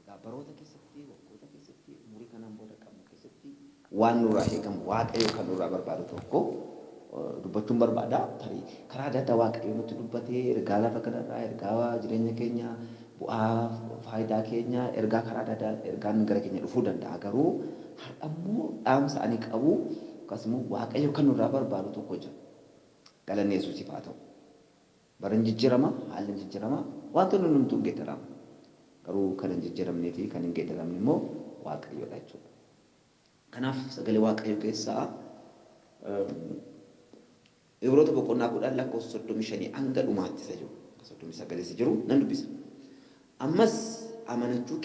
Egaa baroota keessatti, waggoota keessatti, umurii kanaan booda qabnu keessatti waan nurraa eegamu, Waaqayyo kan nurraa barbaadu tokko dubbachuun barbaada. Tarii karaa adda addaa Waaqayyo nutti dubbate, ergaa lafa kanarraa, ergaa jireenya keenya, bu'aa faayidaa keenya, ergaa karaa adda addaa ergaan gara keenya dhufuu danda'a. Garuu har'ammoo dhaamsa ani qabu yookaas immoo Waaqayyo kan nurraa barbaadu tokko jira. Galanni Yesuusiif haa ta'u. Barrin jijjirama, haalli jijjirama, waantonni hundumtuu hin geedaramu. Garuu kan hin jijjiramnee fi kan hin geedaramne immoo Waaqayyoo dha jechuudha. Kanaaf sagalee Waaqayyoo keessaa Ibroota boqonnaa 10 lakkoofsa 35 hanga dhumaatti isa jiru, hanga 39 isa jiru nan dubbisa. Ammas amanachuu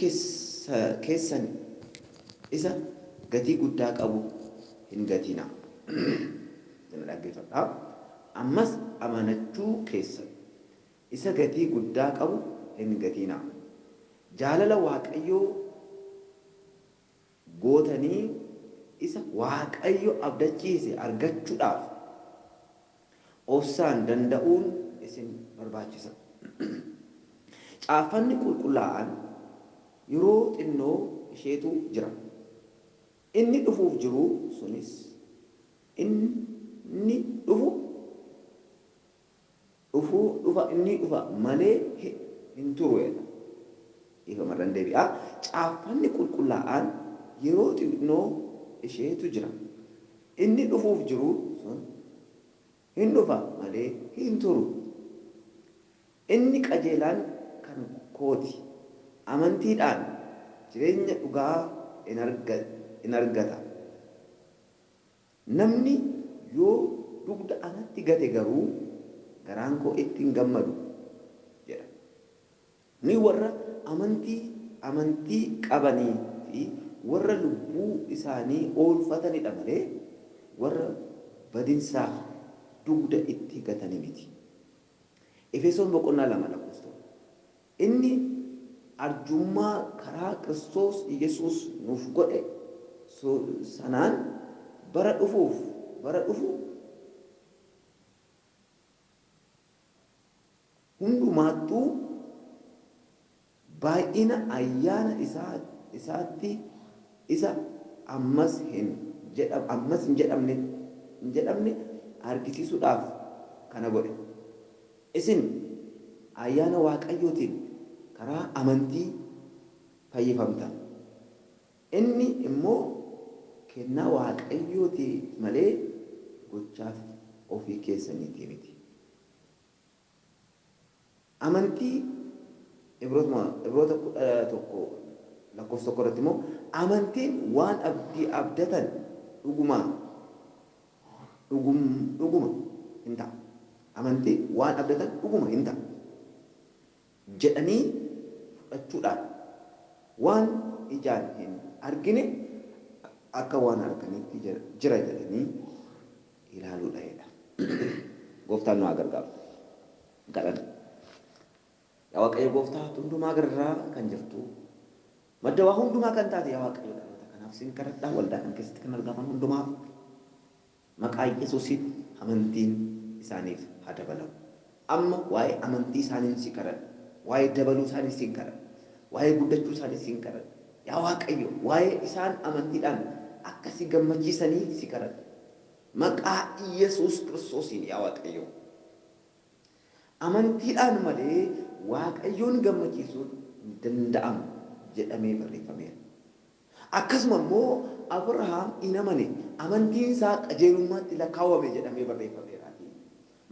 keessan isa gatii guddaa qabu hin gatinaa. Na dhaggeeffadhaa. Ammas amanachuu keessan isa gatii guddaa qabu hin gatinaa. Jaalala Waaqayyoo gootanii isa Waaqayyo abdachiise argachuudhaaf obsaan danda'uun isin barbaachisa. Caaffanni Qulqullaa'aan yeroo xinnoo isheetu jira. Inni dhufuuf jiru sunis, inni dhufu dhufu dhufa inni dhufa malee hin turu jedha. Dhiifama irran deebi'a. Caaffanni qulqullaa'aan yeroo xiqnoo isheetu jira. Inni dhufuuf jiru sun hin dhufa malee hin turu. Inni qajeelaan kan kooti. Amantiidhaan jireenya dhugaa in argata. Namni yoo dugda anatti gate garuu garaan koo itti hin gammadu jedha. Ni warra amantii amantii qabanii fi warra lubbuu isaanii oolfatani dha malee warra badinsaaf dugda itti gatani miti. Efesoon boqonnaa 2 lakkoofsa 1. Inni arjummaa karaa Kiristoos Yesuus nuuf godhe sanaan bara dhufuuf bara dhufu hundumaattuu baay'ina ayyaana isaatti isa ammas hin jedhamne argisiisuudhaaf kana godhe. Isin ayyaana Waaqayyootiin karaa amantii fayyifamtan, inni immoo kennaa Waaqayyooti malee gochaa ofii keessaniitii miti. Amantii Ibrootuma Ibroota 11 lakkoofsa 1 irratti immoo amantiin waan abdii abdatan dhugumaa dhugum dhuguma in ta'a. Amantii waan abdatan dhuguma in ta'a jedhanii fudhachuudhaan waan ijaan hin argine akka waan arganiitti jira jedhanii ilaaluudha jedha. Gooftaan nu haa gargaaru. Galan. Yaa Waaqayyo Gooftaa hundumaa gararraa kan jirtu. Madda waa hundumaa kan taate yaa Waaqayyo dhaloota kanaaf sin kadhadha waldaa kana keessatti kan argaman hundumaaf maqaa Yesuusiin amantiin isaaniif haa dabalamu. Amma waa'ee amantii isaaniin si kadhadha. Waa'ee dabaluu isaanii sin kadhadha. Waa'ee guddachuu isaanii sin kadhadha. Yaa Waaqayyo waa'ee isaan amantiidhaan akka si gammachiisanii si kadhadha. Maqaa Yesuus Kiristoosiin yaa Waaqayyo. Amantiidhaan malee Waaqayyoon gammachiisuun hin danda'amu jedhamee barreeffameera. Akkasuma immoo Abrahaam in amane, amantiin isaa qajeelummaatti lakkaawame jedhamee barreeffameeraatii.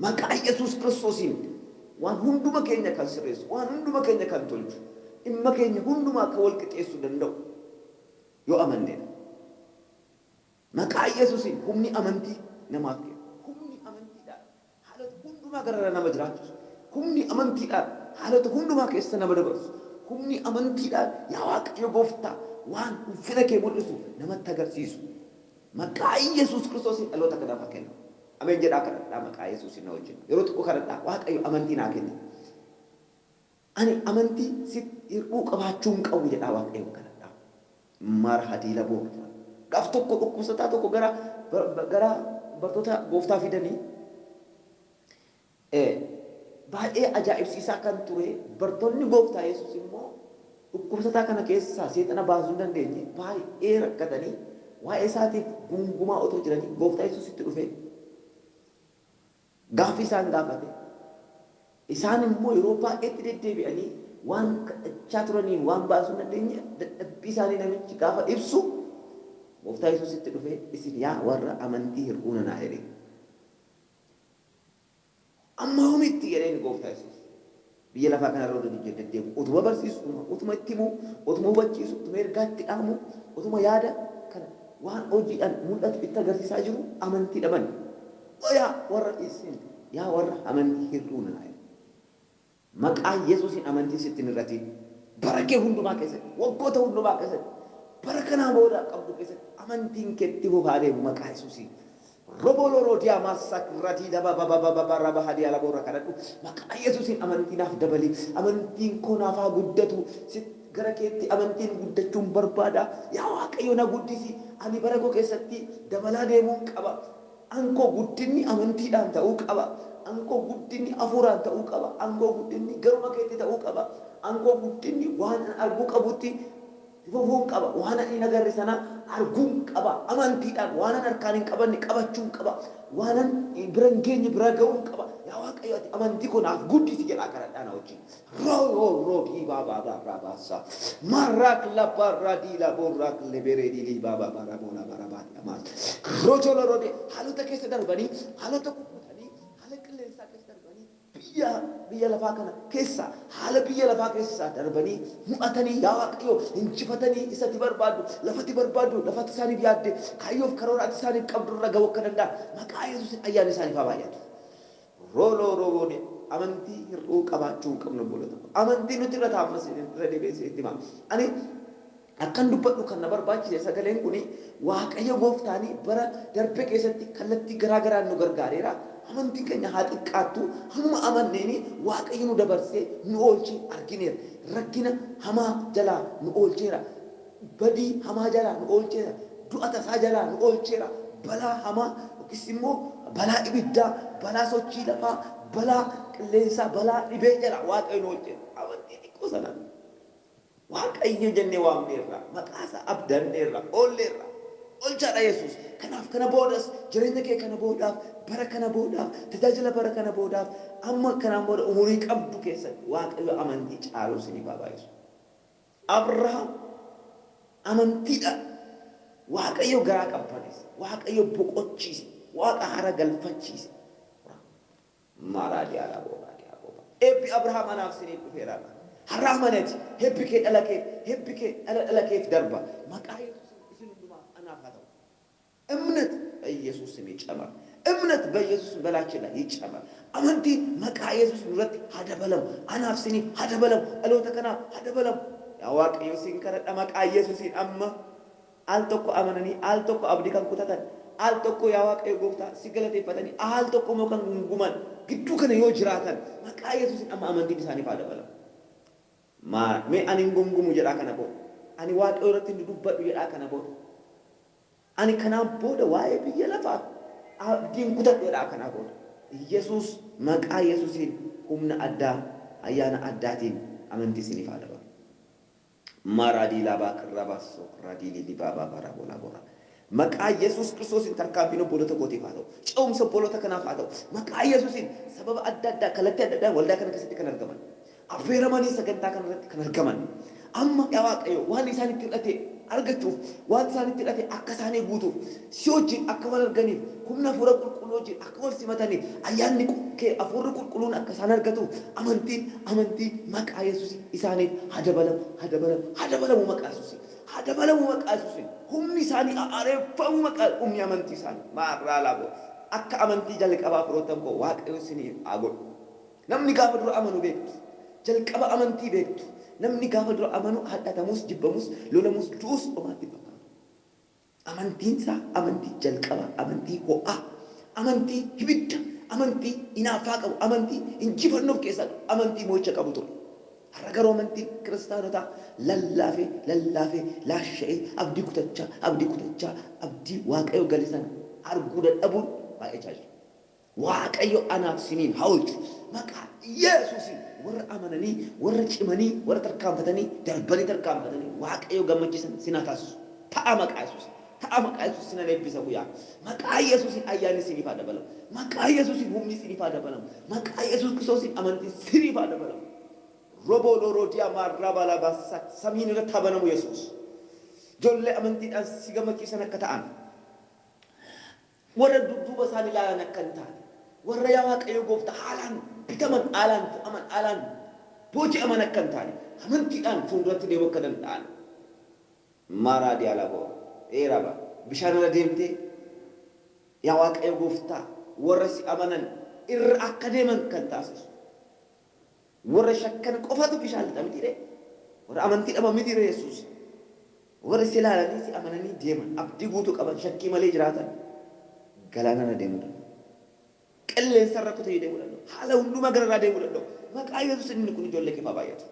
Maqaa Yesuus Kiristoosiin waan hunduma keenya kan sirreessu, waan hunduma keenya kan tolchu, dhimma keenya hundumaa kan wal qixeessu danda'u yoo amanne dha. Maqaa Yesusiin humni amantii namaaf kenna. Humni amantiidhaan haalota hundumaa gararra nama jiraachisu, humni amantiidhaan haalota hundumaa keessa nama dabarsu, humni amantiidhaan yaa Waaqayyo Gooftaa waan ulfina kee mul'isu namatti agarsiisu maqaa Yesus Kiristoosiin dhaloota kanaaf haa kennamu. Ameen jedhaa kadhadhaa maqaa Yesusiin na wajjin yeroo tokko kadhadhaa Waaqayyo amantii naa kenni. Ani amantii sitti hir'uu qabaachuu hin qabu jedhaa Waaqayyoon kadhadhaa. Mar. Hadiila Boordaa. Gaaf tokko dhukkubsataa tokko gara gara bartoota Gooftaa fidanii e, baay'ee ajaa'ibsiisaa kan ture bartoonni Gooftaa Yesuus immoo dhukkubsataa kana keessaa seexana baasuu hin dandeenye baay'ee rakkatanii waa'ee isaatiif guungumaa otoo jiranii Gooftaa Yesuus itti dhufee, Gaaffii isaan gaafate. Isaan immoo yeroo baay'eetti deddeebi'anii waan kadhachaa turaniin waan baasuu hin dandeenye dadhabbii isaanii namichi gaafa ibsu Gooftaa Yesuusitti dhufee isin yaa warra amantii hir'uu nanaa jedheen. Amma yoomitti jedheen Gooftaa Yesuus. Biyya lafaa kana irra utuun ijjoon deddeebi'u, utuma barsiisu, utuma itti himu, utuma hubachiisu, utuma ergaa itti dhaamu, utuma yaada kana waan hojiidhaan mul'atu itti agarsiisaa jiru amantii dhaban. O yaa warra isin yaa warra amantii hir'uu nana jedha. Maqaa Yesuusiin amantiin sitti hin hir'atiin. Bara kee hundumaa keessatti, waggoota hundumaa keessatti, bara kanaa booda qabdu keessatti amantiin kee itti fufaa deemu maqaa Yesuusiin. Roboo loroo diamaa sak ratii daba baba baba ba raba hadii alaboo irra kadhadhu maqaa yesusin amantii naaf dabali amantiin koo naaf haa guddatu sit gara keetti amantiin guddachuun barbaada yaa waaqayyo na guddisi ani bara koo keessatti dabalaa deemuun qaba an koo guddinni amantiidhaan ta'uu qaba an koo guddinni afuuraan ta'uu qaba an koo guddinni garuma keetti ta'uu qaba an koo guddinni waan an arguu qabutti fufuun qaba. Waan ani hin agarre sana arguun qaba. Amantiidhaan waanan harkaan hin qabanne qabachuun qaba. Waanan bira hin geenye bira ga'uun qaba. Yaa Waaqayyo ati amantii koo naaf guddisi jedhaa kadhadhaa na wajjin. Rooyooyoo diibaa baabaa raabaassaa. Maarraak labbaarraa diilaa boorraak leberee diilii baabaa baara boolaa baara baadii amaas. Rojolorode haalota keessa darbanii haalota kukkutanii haala qilleensaa keessa darbanii Biyya biyya lafaa kana keessaa, haala biyya lafaa keessaa darbanii, mu'atanii, yaa Waaqayyo, injifatanii, isa ati barbaaddu, lafa ati barbaaddu, lafa ati isaaniif yaadde, kaayyoo fi karoora ati isaaniif qabdu irra ga'uu akka danda'an, maqaa Yesuusiin ayyaanni isaaniif haa baay'atu. Rooloo Rooboone amantii hir'uu qabaachuu hin qabnu obboloota koo. Amantii nuti irra taa'ammas irra deebi'een isinitti hima. Ani. Akkan dubbadhu kan na barbaachise sagaleen kun Waaqayyo gooftaan bara darbe keessatti kallattii garaa garaan nu gargaareera. Amantiin keenya haa xiqqaattu hamuma amanneen Waaqayyo nu dabarsee nu oolche argineera. Rakkina hamaa jalaa nu oolcheera. Badii hamaa jalaa nu oolcheera. Du'a tasaa jalaa nu oolcheera. Balaa hamaa yookiis immoo balaa ibiddaa, balaa sochii lafaa, balaa qilleensaa, balaa dhibee jalaa Waaqayyo nu oolcheera. Amantii xiqqoo sanaan. Waaqayyo jennee waamneerra, maqaa isaa abdanneerra, oolleerra. Oolchaa dha Yesuus. Kanaaf kana boodas jireenya kee kana boodaaf, bara kana boodaaf, tajaajila bara kana boodaaf, amma kanaan booda umurii qabdu keessatti Waaqayyo amantii caaluu siiniif haa baay'isu. Abrahaam amantiidhaan Waaqayyo garaa qabbaneesse, Waaqayyo boqochiise, Waaqa haara galfachiise. Mmaa raajii aaraa boo raajii haa boo baa Eebbi Abrahaam anaaf siniif dhufeera har'a Har'a amanati Hebbi kee dhala keef Hebbi kee dhala dhala keef darba maqaa yesuusin isin hundumaaf anaaf haa ta'u Imnat baiyesuus sm yicamar Imnat baiyesuus sm belaache la yicamar Amantiin maqaa yesuus nurratti haa dabalamu anaaf siniif haa dabalamu dhaloota kanaaf haa dabalamu Yaa waaqayyo sin kadhadha maqaa yesuusiin amma Al tokko amananii, al tokko abdi kan kutatan, al tokko yaa Waaqayyo gooftaa si galateeffatanii, aal tokko immoo kan gunguman. gidduu kana yoo jiraatan maqaa Yesuusiin amma amantiin isaaniif haa dabalamu. Maa, mee ani hin gungumu jedhaa kana booda. Ani Waaqayyo irratti hin dudubbadhu jedhaa kana booda. Ani kanaan booda waa'ee biyya lafaaf abdii hin kutadhu jedhaa kanaa booda. Yesuus, maqaa Yesuusiin humna addaa, ayyaana addaatiin amantii siiniif haa dabalu. Maa raadii laabaa kirraa baasso raadii liilii baabaa baaraa boolaa booraa Maqaa yesuus kiristoosiin tarkaanfiin obboloota kootiif haa ta'u ce'umsa obboloota kanaaf haa ta'u maqaa yesuusiin sababa adda addaa kallattii adda addaan waldaa kana keessatti kan argaman affeeramanii sagantaa kana irratti kan argaman amma yaa waaqayyo waan isaanitti hir'ate argachuuf waan isaanitti hir'ate akka isaanii guutuuf Si wajjin akka wal arganiif, humna Hafuura Qulqulluu wajjin akka wal simataniif, Ayyaanni kee, Hafuurri Qulqulluun akka isaan argatuuf, amantiin, amantiin maqaa Yesuusiin isaaniif haa dabalamu, haa dabalamu, haa dabalamu maqaa Yesuusiin, haa dabalamu maqaa Yesuusiin, humni isaanii haa haareeffamu maqaa, humni amantii isaanii, maarraalaaboo, akka amantii jalqabaa firoottan koo Waaqayyo isiniif haa godhu. Namni gaafa dura amanu beektu, jalqaba amantii beektu, namni gaafa dura amanu hadhatamus, jibbamus, lolamus, du'us homaa itti hin fakkaatu. Amantiinsaa amantii jalqabaa, amantii ho'aa, amantii hibidda, amantii inaaffaa qabu, amantii injifannoo of keessaa qabu, amantii mo'icha qabu ture. Har'a garuu amantiin kiristaanotaa lallaafee lallaafee, laasha'ee, abdii kutachaa abdii kutachaa, abdii Waaqayyo gale sana arguu dadhabuun baay'achaa jira. Waaqayyo anaaf siniin haa olchu maqaa yeesuusin warra amananii warra cimanii warra tarkaanfatanii darbanii tarkaanfatanii waaqayyo gammachiisan sin haa taasisu ta'a maqaa yesuusin ta'a maqaa yesuusin sinan eebbisa guyaa maqaa yesuusin ayyaanni siniif haa dabalamu maqaa yesuusin humni siniif haa dabalamu maqaa yesuus kiristoosiin amantiin siniif haa dabalamu Roboo looroo diyamaa rabaa labaa sat samiin irratti haa banamu yesuus jollee amantiidhaan si gammachiisan akka ta'an Warra dudduuba isaanii ilaalan akka hin taane, warra yaa Waaqayyo gooftaa haalaan bitaman, haalaan fo'aman, haalaan booji'aman akka hin taane, amantiidhaan fuulduratti deemuu akka danda'an. Maaraa Diyaalaboo, ee Raba, bishaan irra deemtee yaa Waaqayyo gooftaa warra si amanan irra akka deeman kan taasisu. Warra shakkan qofatu bishaan lixa mitiiree? Warra amantii dhaban mitiiree Yesuus? Warri si ilaalanii si amananii deeman, abdii guutuu qaban, shakkii malee jiraatan galaanarra deemuu danda'u. Qilleensarra kutanii deemuu danda'u. Haala hundumaa gararraa deemuu danda'u. Maqaa Yesuusiin inni kun ijoollee keef haa baay'atu.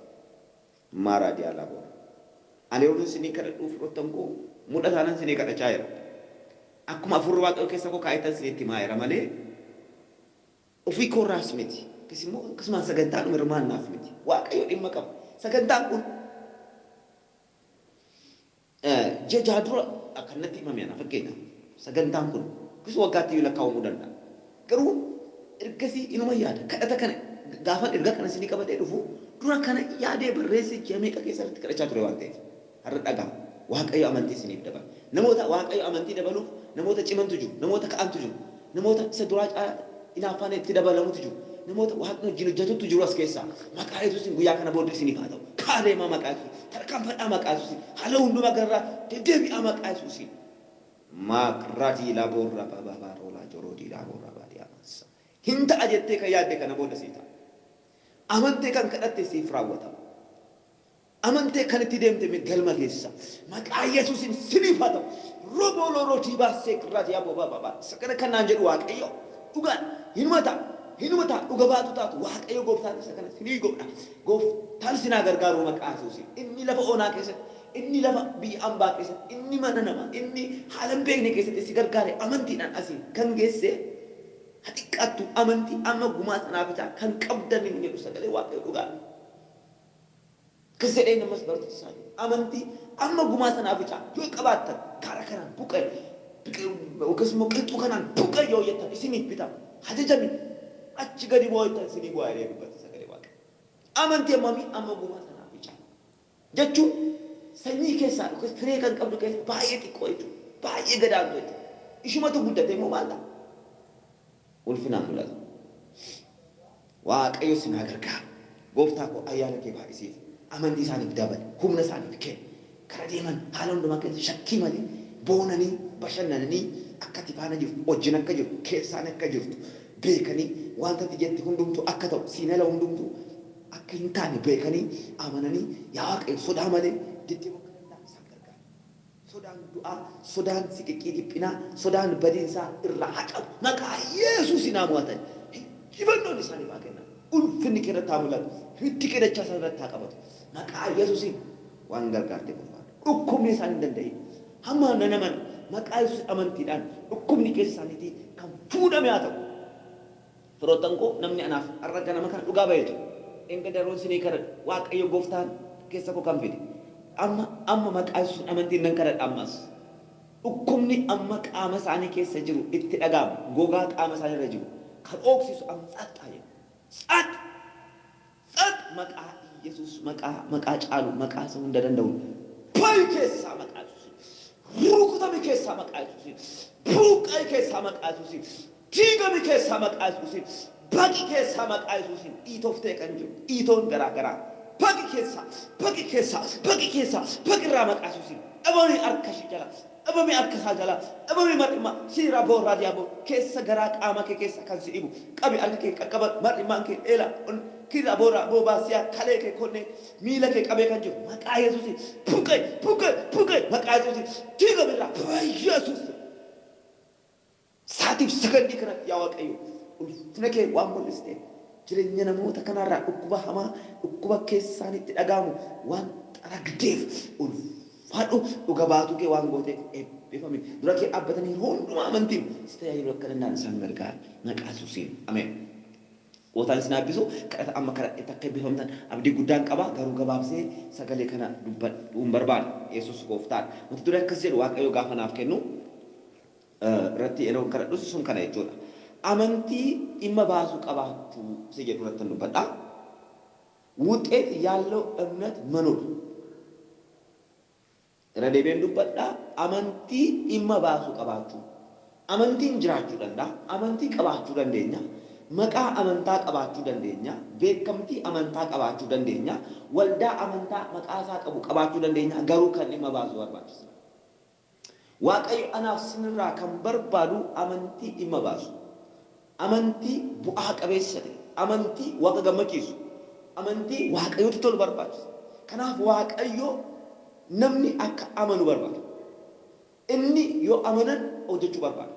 Maaraa Diyaalaa Boora. Ani yeroon isinii kadhadhuu firoottan koo mul'ataanan isinii kadhachaa jira. Akkuma Hafuurri Waaqayyoo keessa koo kaa'ettan isinitti himaa jira malee, Ofii koorraas miti, yookiis immoo akkasumaan sagantaadhuma hirmaannaaf miti. Waaqayyo dhimma qaba. Sagantaan kun ji'a jaha dura kan natti himame ana fakkeenyaaf. Sagantaan kun yookiis waggaatti iyyuu lakkaawamuu danda'a. Garuu ergasii inuman yaada. Kadhata kana gaafan ergaa kana isinii qabadhee dhufu dura kana yaadee barreessee ji'a meeqa keessa irratti kadhachaa ture waan ta'eef. Har'a dhaga'a. Waaqayyo amantii isiniif dabala. Namoota Waaqayyo amantii dabaluuf namoota cimantu jiru. Namoota ka'antu jiru. Namoota isa duraa caalaa inaaffaan itti dabalamutu jiru. Namoota Waaqni wajjin hojjetuttu jiru as keessaa. Maqaa Yesuusiin guyyaa kana booddee isiniif haa ta'u. Ka'aa deemaa maqaa Yesuusiin. Tarkaanfadhaa maqaa Yesuusiin. Haala hundumaa gararraa deddeebi'aa maqaa Yesuusiin. Maakradii laboo rabababaa roolaa joroodii laaboo rabaadii amaassaa. Hin ta'a jettee kan yaadde kana booda sii ta'a. Amantee kan kadhatte siif raawwatama. Amantee kan itti deemte me galma geessa maqaa yesusin siniif haa ta'u roboo looroo tiibaa seekirraa tiyaa bobaababa sakana kan naan jedhu waaqayyoo dhugaan hinuma ta'a hinuma ta'a dhuga baatu taatu waaqayyoo gooftaan isa kana sinii goodha gooftaan sinaa gargaaruu maqaa yesusin inni lafa onaa keessatti inni lafa biyya ambaa keessatti inni mana nama inni haala hin beekne keessatti si gargaare amantiidhaan asiin kan geesse ha xiqqaattu amantii amma gumaa sanaa bitaa kan qabdan hin jedhu sagalee waaqayyoo dhugaadha. Akkas jedheen ammas barattoota isaanii, Amantii amma gumaa sanaa bicaa yoo qabaattan, gaara kanaan buqqa'i yookiis immoo qilxuu kanaan buqqa'i yoo jettan isiniif bitama. Hajajami! Achi gadi bu'aa jettan isinii bu'aa jedhee dubbate sagalee Waaqayyoo. Amantii hammamii? Amma gumaa sanaa bicaa. Jechuun sanyii keessaa yookiis firee kan qabdu keessaa baay'ee xiqqoo jechuudha. Baay'ee gadaantuu jechuudha. Ishumatu guddatee immoo maal ta'a? Ulfinaaf mul'ata. Waaqayyo sin haa gargaaru. Gooftaa koo ayyaana kee baay'isiif. Amantii isaaniif dabali. Humna isaaniif kenni. Kara deeman haala hundumaa keessa shakkii malee boonanii, bashannananii akka ati faana jirtu, wajjin akka jirtu, keessaan akka jirtu beekanii wanta ati jette hundumtuu akka ta'u, siin ala hundumtuu akka hin taane beekanii, amananii yaa Waaqayyo sodaa malee deddeebi'uu akka danda'an isaan gargaari. Sodaan du'aa, sodaan siqiqqii dhiphinaa, sodaan badiinsaa irraa haa qabu. Maqaa Yesuusiin haa mo'atan. Injifannoon isaaniif haa kennamu. Ulfinni kee irratti haa mul'atu. Hiddi kee dachaa isaan irratti haa qabatu. Maqaa Yesuusiin waan gargaarteef ulfaadhu. Dhukkubni isaan hin danda'iin. Amma nan amana. Maqaa Yesuusiin amantiidhaan dhukkubni keessa isaaniitii kan fuudhame haa ta'u. Firoottan koo namni anaaf har'a ganama kana dhugaa ba'ee ture dheengadda yeroon isinii kadhadhu Waaqayyo gooftaan keessa koo kan fide amma amma maqaa yesuusin amantiin nan kadhadha ammas dhukkubni amma qaama isaanii keessa jiru itti dhaga'amu gogaa qaama isaanii irra jiru kan ooksisu amma tsaaxxaa jedha tsaaxx Tsad maqaa iyesus maqaa maqaa caalu maqaa isa hunda danda'un ba'i keessaa maqaa yesusin rukutami keessaa maqaa yesusin buuqqa'i keessaa maqaa yesusin diigami keessaa maqaa yesusin baqi keessaa maqaa yesusin dhiitoftee kan jiru dhiitoon garaa garaa baqi keessaa baqi keessaa baqi keessaa baqi irraa maqaa yesusin dhabami harka ishii jala dhabame harka isaa jalaa dhabame mar'immaa si irraa boo raadiyaa boo keessa garaa qaamaa kee keessa kan si dhibu qabi harka kee qaqqaba mar'immaan kee eela on ki irraa boo raa boo baasiyaa kalee kee konnee miila kee qabee kan jiru maqaa yesuusi buqe buqe buqe maqaa yesuusi diigame irraa. Beyyesuus. Sa'aatiif sagandii kanatti yaa Waaqayyo ulfina kee waan mul'isteef jirenya namoota kanaa irraa dhukkuba hamaa dhukkuba keessaanitti dhaga'amu waan xaragdeef ulfaadhu dhuga baatuu kee waan gooteef eebbifami dura kee dhaabbatanii yeroo hundumaa amantiin si tajaajiluu akka danda'an isaan gargaari maqaa yesuusiin ameen Gootaan isin haa eebbisu kadhata amma kadhadhetti akka eebbifamtan abdii guddaan qaba garuu gabaabsee sagalee kana dubbadhuun barbaada yesuus gooftaadha mata duree akkas jedhu waaqayyo gaafa naaf kennu irratti yeroon kadhadhus sun kana jechuudha. Amantii dhimma baasu qabaachuu isa jedhu irrattan dubbadha. Wuxxeet yaallow emnet manoor. Irra deebi'een dubbadha. Amantii dhimma baasu qabaachuu. Amantiin jiraachuu danda'a. Amantii qabaachuu dandeenya. Maqaa amantaa qabaachuu dandeenya. Beekamtii amantaa qabaachuu dandeenya. Waldaa amantaa maqaa isaa qabu qabaachuu dandeenya. Garuu kan dhimma baasu barbaachisa. Waaqayyo anaaf sinirraa kan barbaadu amantii dhimma baasu, amantii bu'aa qabeessa ta'e, amantii Waaqa gammachiisu, amantii Waaqayyotti tolu barbaachisa. Kanaaf Waaqayyo namni akka amanu barbaada. Inni yoo amanan hojjechuu barbaada.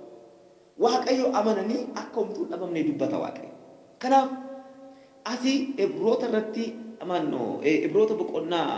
Waaqayyo amananii akka homtuu hin dhabamne dubbata Waaqayyo. Kanaaf asi Ibroota irratti, maanno, Ibroota boqonnaa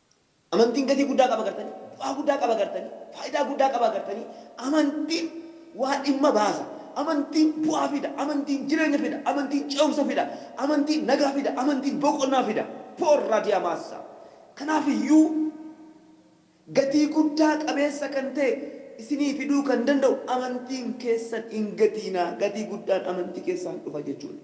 Amantiin gatii guddaa qaba gartanii? Bu'aa guddaa qaba gartanii? Faayidaa guddaa qaba gartanii? Amantiin waa dhimma baasa. Amantiin bu'aa fida. Amantiin jireenya fida. Amantiin ce'umsa fida. Amantiin nagaa fida. Amantiin boqonnaa fida. Porra dia massa! Kanaaf iyyuu gatii guddaa qabeessa kan ta'e isinii fiduu kan danda'u amantiin keessan hin gatiinaa. Gatii guddaan amantii keessaan dhufa jechuudha.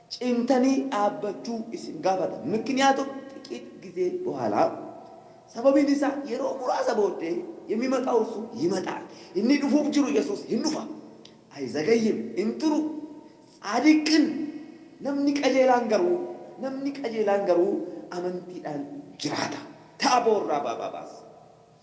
cimtanii dhaabbachuu isin gaafata, mikniyaatum xiqiit gizee bohaala, sababiin isaa yeroo muraasa booddee yemimaxaw irsu yimaxaal, inni dhufuuf jiru Yesuus hin dhufa, ayzagayyim, hin turu, tsaadiqin, namni qajeelaan garuu, namni qajeelaan garuu amantiidhaan jiraata. Ta'a boo'urraa baababaas.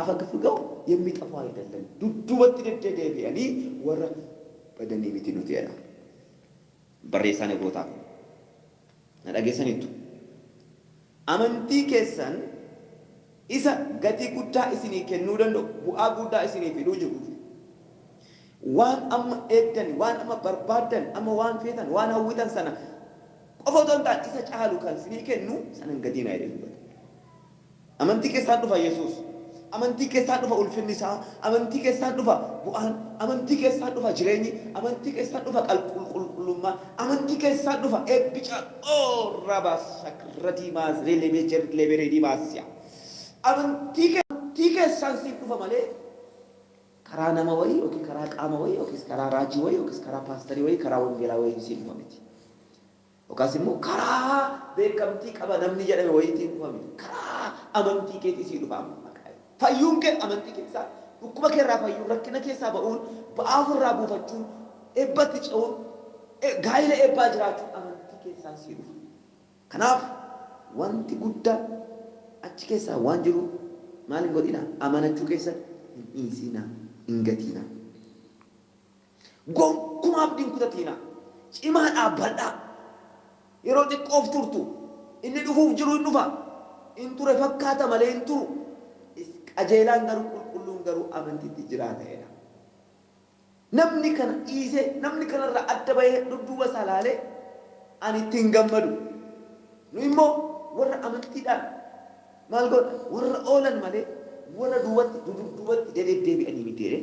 Afagfgau yemmiixafu ayidellam dudduubatti deddedeebi'anii warra badanii miti nuti jedha barreessaan Ibrootaa kun. Na dhageessaniittu? Amantii keessan isa gatii guddaa isinii kennuu danda'u, bu'aa guuddaa isinii fiduu jiruuf, waan amma eegdan, waan amma barbaaddan, amma waan feetan, waan hawwitan sana qofa otoo hin taane isa caalu kan isinii kennu sana hin gatinaa jedhee dubbata. Amantii keessaan dhufa Yesuus. Amantii keessaan dhufa ulfinni isaa. Amantii keessaan dhufa bu'aan. Amantii keessaan dhufa jireenyi. Amantii keessaan dhufa qalqulqullummaan. Amantii keessaan dhufa eebbi caalu. Oh Rabasakradii Maazreelebejer Leberedii Maasiyaa. Amantii Amantii keessaan siif dhufa malee karaa nama wayii yookiin karaa qaama wayii yookiis karaa raajii wayii yookiis karaa paastarii wayii karaa wangeelaa wayiin siif dhufa miti. Yookaas immoo karaa beekamtii qaba namni jedhame wayiitiin dhufa miti. Karaa amantii keetii sii dhufa amma maqaa Yesuus. Fayyuun kee amantii keessaa dhukkuba kee irraa fayyuun, rakkina keessaa ba'uun, ba'aa of irraa buufachuun, eebbatti ce'uun, gaa'ila eebbaa jiraachuun amantii keessaan sii dhufa. Kanaaf wanti guddaa achi keessaa waan jiruuf maal hin godhinaa? Amanachuu keessan hin dhiisinaa, hin gatiinaa. Gonkumaa abdii hin kutatiinaa. Cimaa dhaabbadhaa. Yeroo xiqqoof turtu. Inni dhufuuf jiru in dhufa. In ture fakkaata malee hin turu. Qajeelaan garuu, qulqulluun garuu amantiitti jiraata jedha. Namni kana dhiisee, namni kanarraa adda bahee dudduuba isaa ilaale, ani itti hin gammadu. Nuyi immoo warra amantiidhaan maal goona? Warra oolan malee warra duubatti, dudubduubatti dededdeebi'anii miti jedhee.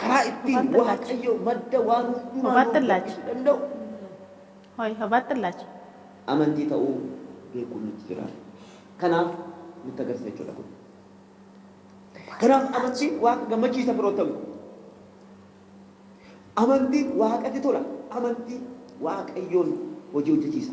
karaa ittiin waaqayyo madda waan hundumaa Hubaatti nuuf illaacha. gadhiisuu danda'u Hoi, hubaatti illaacha. amantii ta'uu beekuun nutti jira. Kanaaf nutti agarsiisa jechuudha kun. Kanaaf amantiin waaqa gammachiisa firoottan koo. Amantiin waaqatti tola. Amantiin waaqayyoon hojii hojjechiisa.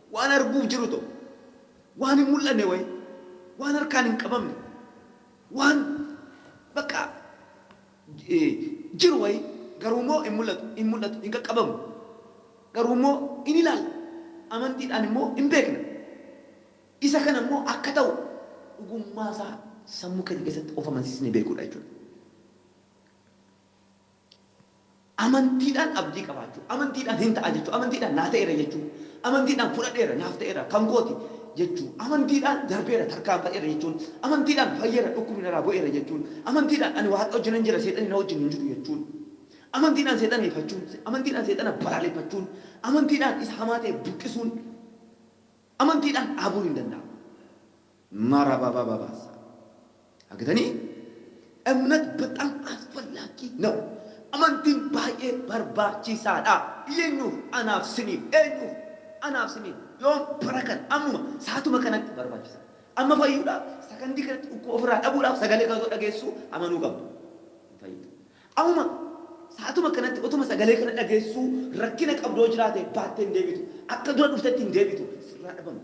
Waan arguuf jiru tokko, waan hin mul'anne wayii, waan harkaan hin qabamne, waan bakka jiru wayii, garuu immoo hin mul'atu, hin mul'atu, hin qaqqabamu. Garuu immoo in ilaalla, amantiidhaan immoo in beekna. Isa kana immoo akka ta'u dhugummaa isaa sammuu keenya keessatti of amansiisnee beekuu dha jechuu dha. Amantiidhaan abdii qabaachuu, amantiidhaan hin ta'a jechuu, amantiidhaan naa ta'eera jechuu, amantiidhaan fudhadheera, naaf ta'eera, kan kooti jechuu, amantiidhaan darbeera, tarkaanfadheera jechuun, amantiidhaan fayyeera, dhukkubni narraa bu'eera jechuun, amantiidhaan ani Waaqa wajjinan jira, seexanni na wajjin hin jiru jechuun, amantiidhaan seexana ifachuun, amantiidhaan seexana balaaleffachuun, amantiidhaan isa hamaa ta'e buqqisuun, amantiidhaan dhaabuun hin danda'amu. Marababababa sa. Agatanii Emnet bexam asfallagi naw Amantiin baay'ee barbaachiisaa dha Eenyuuf Anaaf siniif Eenyuuf Anaaf siniif Yoom bara kana Ammuma saatuma kanatti barbaachisaa dha Amma fayyuudhaaf sakandii kanatti dhukkuba ofirraa dhabuudhaaf sagalee kana otoo dhageessuu amanuu qabdu hin fayyita Ammuma saatuma kanatti otuma sagalee kana dhageessuu rakkina qabdu yoo jiraate baattee hin deebitu Akka dura dhuftetti hin deebitu sirraa dhabama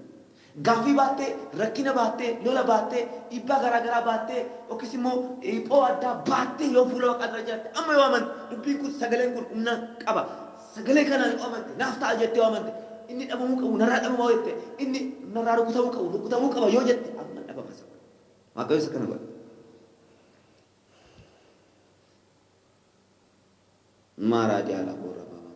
Gaaffii baattee, rakkina baattee, lola baattee, dhiibbaa garaa garaa baattee yookiis immoo dhiphoo addaa baattee yoo fuula Waaqaa dura jiraatte, amma yoo amante, dubbiin kun, sagaleen kun humna qaba, sagalee kanaan yoo amante, naaf ta'a jettee yoo amante, inni dhabamuu qabu narraa dhabama yoo jette, inni narraa rukutamuu qabu rukutamuu qaba yoo jette, amma hin dhabama isa kun. Waaqayyos akkana godha. Maaraa Diyaala Boorra Baabaa.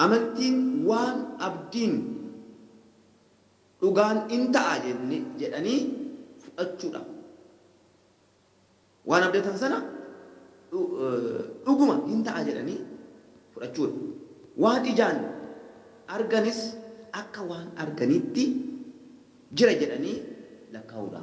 Amantiin waan abdiin dhugaan in ta'a jenne jedhanii fudhachuu dha. Waan abdatan sana dhuguma in ta'a jedhanii fudhachuu dha. Waan ijaan arganis akka waan arganiitti jira jedhanii lakkaa'uu dha.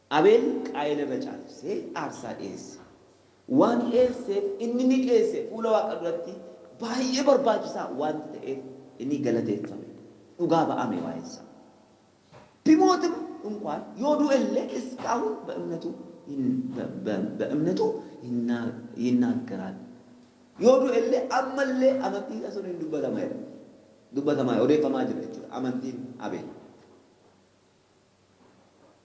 Abeel Qaayel irra caalchisee aarsaa dhi'eesse. Waan dhi'eesseef inni mi'eesse fuula Waaqa duratti baay'ee barbaachisaa waanta ta'eef inni galateeffame, dhugaa ba'ame waa'ee isaa. Timootim inkwaan yoo du'e illee iskaahun be'emnetu be'emnetu yinnaaggeral, yoo du'e illee amma illee amantii isaa sun in dubbatama jedha, dubbatamaa, odeeffamaa jira jechuudha amantiin Abeel.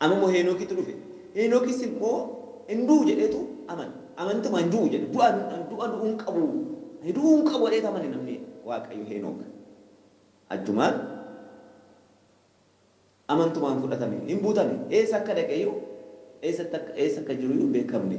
Amma immoo Heenokitu dhufe. Heenokis immoo hin du'u jedheetu amane. Amantiidhuma hin du'u jedhe. Du'a du'a du'uu hin qabu. Ani du'uu hin qabu jedheetu amane namni Waaqayyo Heenok. Achumaan amantumaan fudhatame. Hin butame. Eessa akka dhaqe iyyuu eessatti akka eessa akka jiru iyyuu hin beekamne.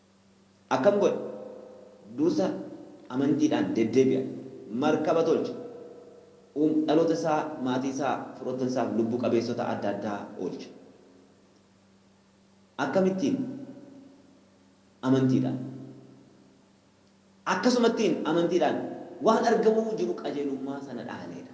Akkam godha? Dursa amantiidhaan deddeebi'a. Markaba tolcha. Uum, dhaloota isaa, maatii isaa, firoottan isaa fi lubbu qabeessota adda addaa oolcha. Akkamittiin? Amantiidhaan. Akkasumattiin amantiidhaan waan argamuu jiru qajeelummaa sana dhaalee dha.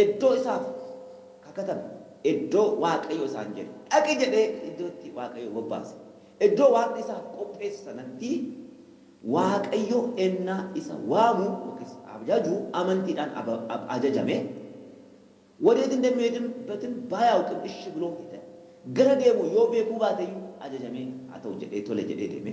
Eddoo isaaf kakatame, eddoo Waaqayyo isaan jedhe, dhaqi jedhee iddoo itti Waaqayyo bobbaase, eddoo Waaqni isaaf qopheesse sanatti Waaqayyo ennaa isa waamu yookiis abjaju amantiidhaan ab, ajajame, Wadeet indemiheedin betin baayaaukm ishi biloo hide, gara deemu yoo beekuu baate iyyuu ajajamee haa ta'u jedhee tole jedhee deeme.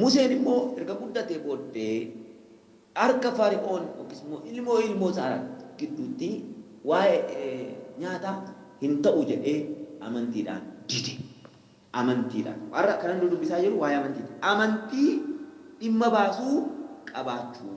Museen immoo erga guddatee booddee harka Fari'oon yookiis immoo ilmoo ilmoo isaa gidduutti waa'ee nyaataa hin ta'u jedhee amantiidhaan dide. Amantiidhaan. Har'a kanan nu dubbisaa jiru waa'ee amantiiti. Amantii dhimma baasuu qabaachuu.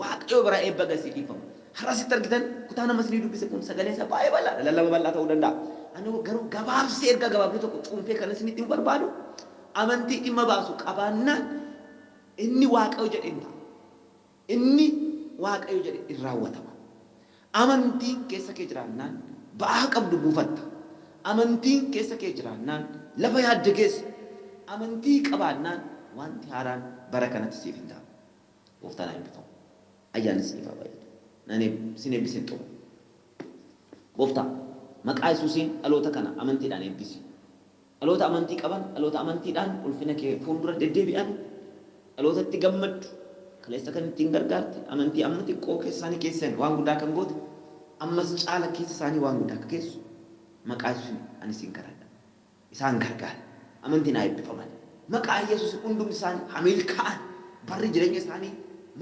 Waaqayyoo biraa eebba gad siif dhiifamu. Har'a asitti argitan kutaan amma isinii dubbise kun sagaleen isaa baay'ee bal'aadha, lallaba bal'aa ta'uu danda'a. Ani garuu gabaabsee ergaa gabaabduu tokko cuunfee kanan isinitti himu barbaadu, amantii dhimma baasu qabaannaan inni Waaqayyo jedhe in ta'a. Inni Waaqayyo jedhe in raawwatama. Amantiin keessa kee jiraannaan ba'aa qabdu buufatta. Amantiin keessa kee jiraannaan lafa yaadde geessa. Amantii qabaannaan wanti haaraan bara kanatti siif in ta'a. Gooftaan haa eebbifamu. Ayyaanni isiniif haa baay'atu. Nan eeb, sin eebbiseen xumura. Gooftaa, maqaa Yesuusiin dhaloota kana amantiidhaan eebbisi. Dhaloota amantii qaban, dhaloota amantiidhaan ulfina kee fuuldura deddeebi'an, dhaloota itti gammaddu, kaleessa kan ittiin gargaarte, amantii amma xiqqoo keessa isaanii keesseen waan guddaa kan goote, ammas caala keessa isaanii waan guddaa akka geessu maqaa Yesuusiin ani siin kadhadha. isaan gargaara. Amantiin haa eebbifaman. Maqaa Yesuusin hundumti isaanii haa milkaa'an. Barri jireenya isaanii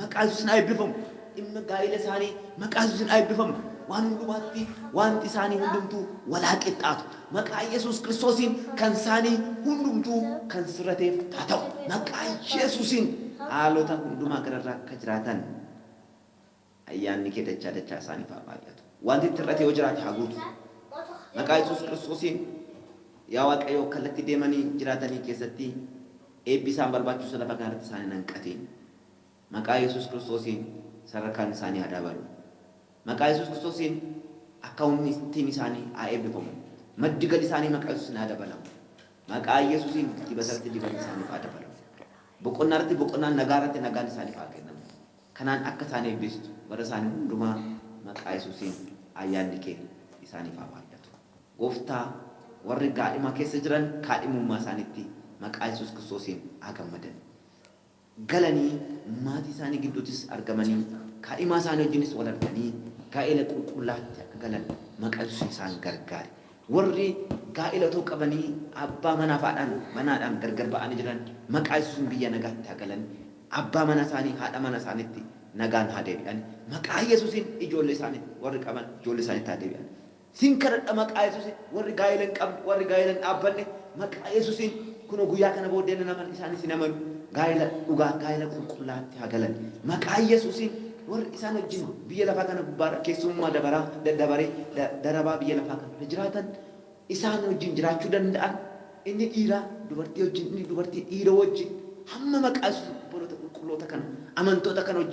maqaa Yesuusin haa eebbifamu. Dhimma gaa'ila isaanii maqaa Yesuusin haa eebbifamu. Waan hundumaatti waanti isaanii hundumtuu wal haa qixxaatu. Maqaa Yesuus Kiristoosiin kan isaanii hundumtuu kan sirrateef haa ta'u. Maqaa Yesuusiin haalota hundumaa gararraa akka jiraatan. Ayyaanni kee dachaa dachaa isaaniif haa baay'atu. Wanti itti hir'ate yoo jiraate haa guutu. Maqaa Yesuus Kiristoosiin yaa Waaqayyo kallatti deemanii jiraatanii keessatti eebbi isaan barbaachisu lafa kana irratti isaan hin hanqatiin. Maqaa Yesuus Kiristoosiin sadarkaan isaanii haa dabalu. Maqaa Yesuus Kiristoosiin akkaawuntiin isaanii haa eebbifamu. Maddi gali isaanii maqaa Yesuusiin haa dabalamu. Maqaa Yesuusiin dibata irratti dibanni isaaniif haa dabalamu. Boqonnaa irratti boqonnaan nagaa irratti nagaan isaaniif haa kennamu. Kanaan akka isaan eebbistu bara isaanii hundumaa maqaa Yesuusiin ayyaanni kee isaaniif haa baay'atu. Gooftaa, warri gaadhima keessa jiran kaadhimummaa isaaniitti maqaa Yesuus Kiristoosiin haa gammadan. Galanii maatii isaanii gidduuttis argamanii kaadhimaa isaanii wajjinis wal arganii gaa'ela qulqullaa'aatti akka galan maqaa Yesuusiin isaan gargaari. Warri gaa'ila otoo qabanii abbaa manaaf haadhaan manaadhaan gargar ba'anii jiran maqaa Yesuusiin biyya nagaatti haa galan, abbaa mana isaanii, haadha mana isaaniitti nagaan haa deebi'an. Maqaa Yesuusiin ijoollee isaanii warri qaban ijoollee isaaniitti haa deebi'an. Sin kadhadha maqaa Yesuusiin warri gaa'ila hin qabne, warri gaa'ila hin dhaabbanne Maqaa Yesusiin, kunoo guyyaa kana booddee nan amana, isaanis hin amanu. Gaa'ela dhugaa, gaa'ela qulqullaa'atti haa galan. Maqaa Yesusiin, warri isaan wajjin biyya lafaa kana gubbaa irra keessummummaa dabaraa, daddabaree, da, darabaa biyya lafaa kana irra jiraatan, isaan wajjin jiraachuu danda'an, inni dhiiraa dubartii wajjin, inni dubartii dhiira wajjin, hamma maqaa Yesusiin obboloota qulqulloota kana, amantoota kana wajjin,